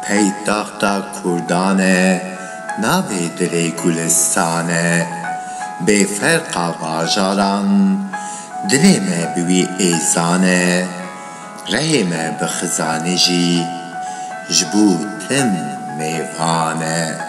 Paytexta kurdan e, navê dilê Gulistan e. Bê ferqa bajaran, dilê me bi wî êzan e. Rehê me bi Xizanê jî, ji bo tim mêvan e.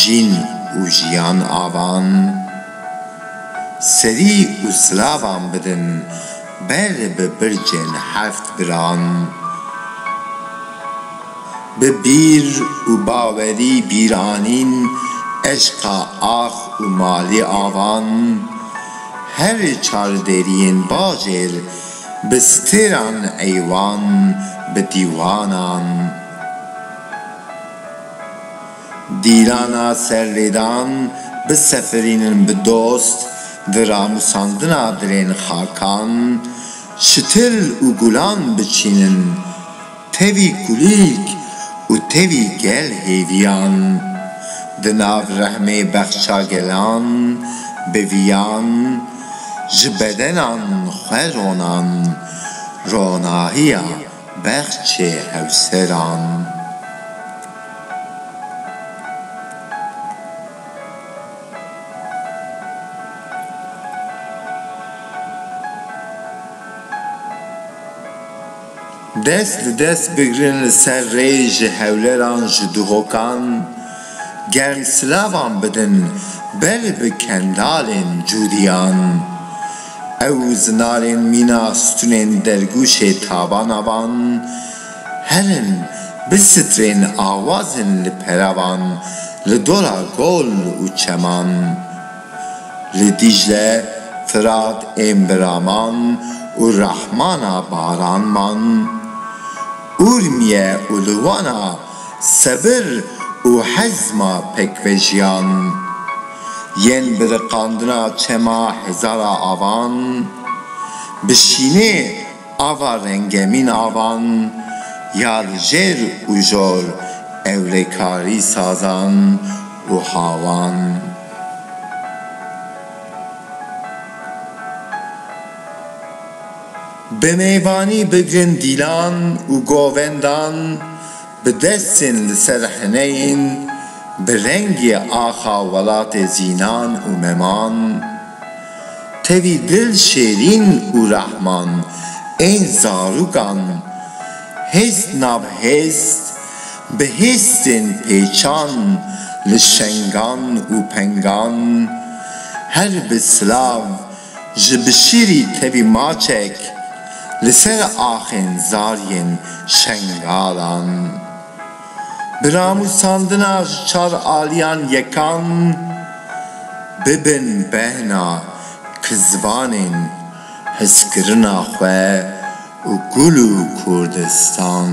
Jin û jiyan avan, serî û silavan bidin ber bi bircên heft biran. Bi bîr û bawerî bîranîn eşqa ax û malî avan, her çar deriyên bajêr bi stêran eywan bi dîwanan. Dîrana serlêdan bisefirînin bi dost di ranûsandina dirên xakan, çitil û gulan biçînin, tevî kulîlk û tevî gel hêviyan, di nav rehmê bexça gelan biviyan, ji bedenan xwe ronan ronahiya Bexçê hevseran. Dest bi dest bigrin li ser rê ji hewleran ji duhokan. Ger silavan bidin ber bi kendalên cûdiyan, ew zinarên mîna stunên dergûşê tabana van herin bi sitrên awazên li peravan li dora gol û çeman, li Dîcle, Firat ên bi raman û rehmana baran man, Urmiye û li Wana Sebir û hezma pekvejiyan. Yên bi riqandina çema hezara avan, bi şînê ava rengemîn avan ya li jêr û jor ewlekarî sazan û hawan. Bi mêvanî bi gundîlan û govendan, bi destên li ser hineyên bi rengê axa welatê Zînan û Meman, tevî dil şêrîn û rehman ên zarûkan, hêst nav hêst, bi hêstên pêçan li şengan û pengan, her bi silav, Ji bişîrî tevî maçek li ser axên zariyên Şengalan. Bi ramûsandina ji çar aliyan yekan bibin behna ki zivanên hizkirina xwe û gul û Kurdistan.